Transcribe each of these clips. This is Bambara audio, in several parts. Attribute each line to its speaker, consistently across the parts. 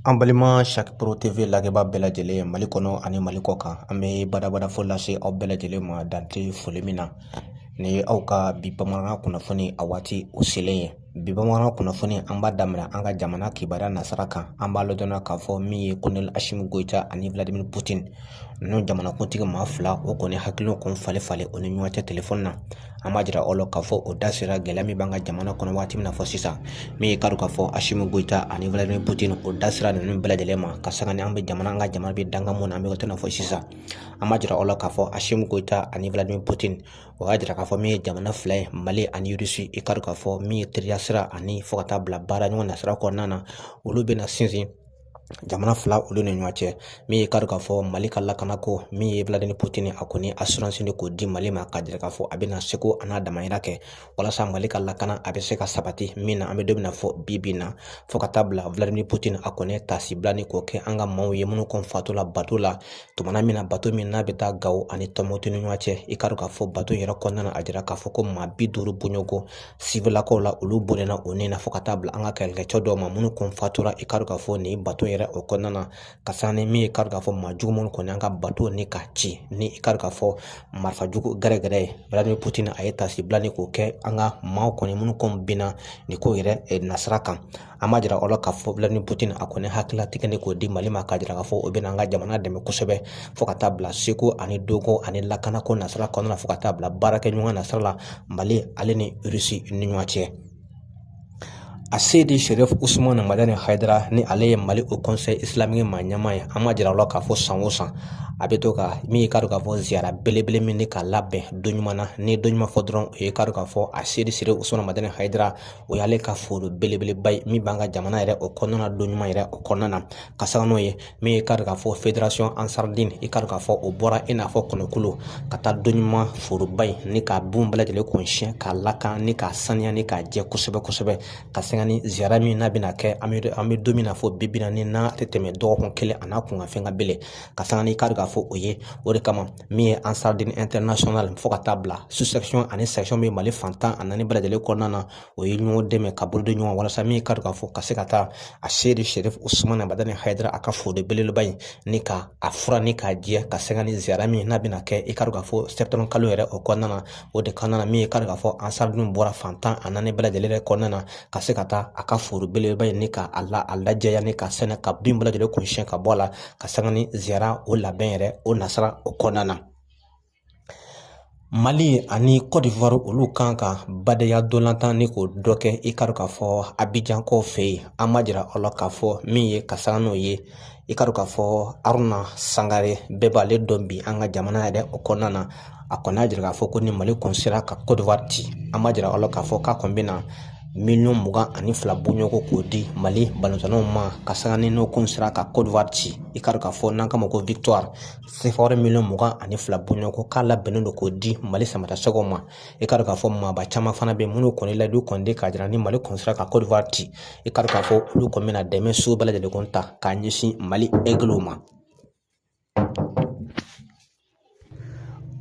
Speaker 1: An balima saro tv lajɛbaa bɛɛ lajɛlen mali kɔnɔ ani mali kɔkan an bɛ badabada fo lase aw bɛɛ lajɛlen ma dante foli min na ni ye aw ka bi bamanankan kunnafoni a waati o selen ye bi bamanankan kunnafoni an b'a daminɛ an ka jamana kibaruya nasira kan an b'a ladɔnniya k'a fɔ min ye kolonɛli asimi goyita ani vladimir putin ninnu jamanakuntigi maa fila o kɔni hakilila kɔni falen o ni ɲɔgɔn cɛ telefɔni na an b'a jira aw la k'a fɔ o da sera gɛlɛya min b'an ka jamana kɔnɔ waati min na fɔ sisan min ye k'a dɔn k'a fɔ asimi goyita ani vladimir putin o da sera ninnu bɛɛ lajɛlen ma ka sanga ni an bɛ jamana an ka jamana bɛ danga min na an bɛ to na fɔ sisan an b'a jira aw la k'a fɔ asimi goyita ani vladimir putin o y'a jira k'a fɔ min ye jamana fila ye mali ani irisi i k'a dɔn k'a fɔ min ye teriya sira ani fo ka taa bila baara ɲɔgɔn nasira kɔnɔna na olu bɛna sinsin jamana fila olu ni ɲɔgɔn cɛ min ye kari k'a fɔ mali ka lakanako min ye vladimir putin a kɔni asuransi ni k'o di mali ma ka jira k'a fɔ a bɛna seko an'a damayira kɛ walasa mali ka lakana a bɛ se ka sabati min na an bɛ don min na fɔ bi bi na fo ka taa bila vladimir putin a kɔni taasibila ni k'o kɛ an ka maaw ye minnu kun fatura bato la tumana min na bato min n'a bɛ taa gawo ani tumutu ni ɲɔgɔn cɛ i k'a dɔn k'a fɔ bato yɛrɛ kɔnɔna na a jira k'a fɔ ko maa bi duuru bɔɲɔgɔn siwililakaw la olu bɔnɛna o ni na fo ka taa bila an ka kɛlɛkɛcɛ dɔw ma minnu kun fatura i k'a dɔn k'a fɔ nin bato yɛrɛ o kɔnɔna na ka sanga ni min ye k'a dɔn k'a fɔ maa jugu minnu kɔni an ka bato ni ka ci ni i k'a dɔn k'a fɔ marifa jugu gɛrɛgɛrɛ ye vladimir putin a ye taasibila ni k'o kɛ an ka maaw kɔni minnu kun binna nin ko yɛrɛ nasira kan an b'a jira aw la k'a fɔ vladimir putin a kɔni hakililatigɛ ni k'o di mali ma k'a jira k'a fɔ o bɛna an ka jamana dɛmɛ kosɛbɛ fo ka taa bila seko ani dɔnko ani lakanako nasira kɔnɔna na fo ka taa bila baarakɛ ɲɔgɔn nasira la mali ale ni irisi ni ɲɔgɔn cɛ aseyidi sɛrifu usumana madani hayidara ni ale ye mali o kɔnsɛyi isilamiki maa ɲɛmaa ye an b'a jira aw la k'a fɔ san o san a bɛ to ka min ye k'a dɔn k'a fɔ ziyara belebele min ni k'a labɛn doɲumana ni doɲumana fɔ dɔrɔn o ye k'a dɔn k'a fɔ aseyidi sɛrifu usumana madani hayidara o y'ale ka foro belebeleba ye min b'an ka jamana yɛrɛ o kɔnɔna na doɲumana yɛrɛ o kɔnɔna na ka sanga n'o ye min ye kari k'a fɔ federasɔn ansaridini i kari k'a fɔ o bɔra i n'a fɔ kɔnɔkulu ka taa doɲumana foroba in ni k'a bin bɛɛ lajɛlen kɔni siɲɛ k'a lakan ni k'a saniya ni k'a jɛ kosɛbɛ kosɛbɛ ka sanga ni ziyara min n'a bɛna kɛ an bɛ an bɛ don min na fɔ bi bi na ni n'a tɛ tɛmɛ dɔgɔkun kelen a n'a kunkanfɛn kan bilen ka sanga ni kari k'a fɔ o ye o de kama min ye ansaridini ɛntɛrinasiyɔnali fo ka taa bila susɛkisɔn ani sɛkisɔn bɛ mali fan tan ani naani bɛɛ lajɛlen kɔnɔna na o ye ɲɔgɔn dɛmɛ ka bolo di ɲɔgɔn walasa min ka k'a fɔ ka se ka taa aseyidi sɛrifu usumana madani hayidara a ka foro belebeleba in ni ka a furan ni k'a jɛ ka sanga ni ziyara min n'a bɛna kɛ i ka k'a fɔ sɛtanburu kalo yɛrɛ o kɔnɔna na o de kɔnɔna na min ye ka k'a fɔ ansaridiniw bɔra fan tan ani naani bɛɛ lajɛlen yɛrɛ kɔnɔna na ka se ka taa a ka foro belebeleba in ni ka a lajɛya ni ka sɛnɛ ka bin bɛɛ lajɛlen kun siɲɛ ka bɔ a la ka sanga ni ziyara o labɛn yɛrɛ o nasira o kɔnɔna na mali ani kɔdiwari olu kan ka badenya ntolatan ni k'o dɔ kɛ i ka k'a fɔ abijan kɔ fɛ yen an b'a jira aw la k'a fɔ min ye ka sanga n'o ye i ka k'a fɔ aruna sangare bɛɛ b'ale dɔn bi an ka jamana yɛrɛ o kɔnɔna na a kɔni y'a jira k'a fɔ ko ni mali kɔni sera ka kɔdiwari ci an b'a jira aw la k'a fɔ k'a kɔni bɛna miliyɔn mugan ani fila bɔɲɔgɔnko k'o di mali balontannaw ma ka sanga ni n'u kɔni sera ka kɔdiwari ci i k'a dɔn k'a fɔ n'an k'a ma ko victoire sefawari miliyɔn mugan ani fila bɔɲɔgɔnko k'a labɛnnen don k'o di mali samatasɛgɛw ma i k'a dɔn k'a fɔ maaba caman fana bɛ minnu kɔni layidu kɔni k'a jira ni mali kɔni sera ka kɔdiwari ci i k'a dɔn k'a fɔ olu kɔni bɛna dɛmɛ sugu bɛɛ lajɛlen kɔni ta k'a ɲɛsin mali ɛgiliw ma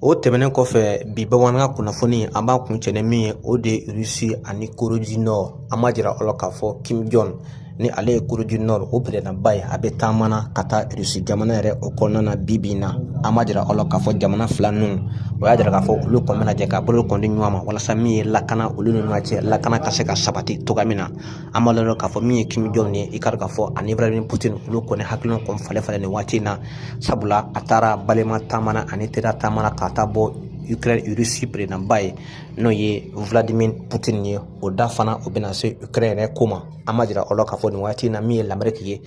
Speaker 1: O tɛmɛnen kɔfɛ bi bamanankan kunnafoni an b'a kuncɛ ni min ye o de ye rusi ani corée du nord an b'a jira aw la k'a fɔ kim jɔn ni ale ye corée du nord o peredanba ye a bɛ taama na ka taa rusi jamana yɛrɛ o kɔnɔna na bi bi in na an b'a jira aw la k'a fɔ jamana fila ninnu o y'a jira k'a fɔ olu kɔni bɛna jɛ ka bolo kɔni di ɲɔgɔn ma walasa min ye lakana olu ni ɲɔgɔn cɛ lakana ka se ka sabati cogoya min na an b'a lajɛ k'a fɔ min ye kim jɔn ye i k'a k'a fɔ ani vladimir putin olu kɔni hakilina kɔni falen falen nin waati in na sabula a taara balima taama na ani teriya taama na ka taa bɔ ukraine irisi peredanba ye n'o ye vladimir putin ye o da fana o bɛna se ukraine yɛrɛ ko ma an b'a jira aw la k'a fɔ nin waati in na min ye lameriki ye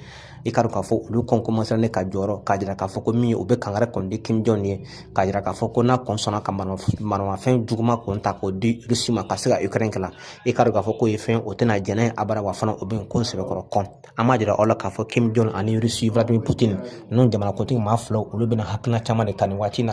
Speaker 1: i k'a dɔn k'a fɔ olu kɔn kɔmasera ne ka jɔyɔrɔ k'a jira k'a fɔ ko min ye o bɛ kangari kɔni di kim jɔn ye k'a jira k'a fɔ ko n'a kɔn sɔnna ka maramafɛn juguman kɔni ta k'o di rusi ma ka se ka ukraine kɛlɛ i k'a dɔn k'a fɔ k'o ye fɛn u tɛna jɛn n'a ye abada wa fana o bɛ ko sɛbɛkɔrɔ kɔn an b'a jira aw la k'a fɔ kim jɔn ani rusi vladimir putin ninnu jamanakuntigi maa fila olu bɛna hakilina caman de ta nin waati in na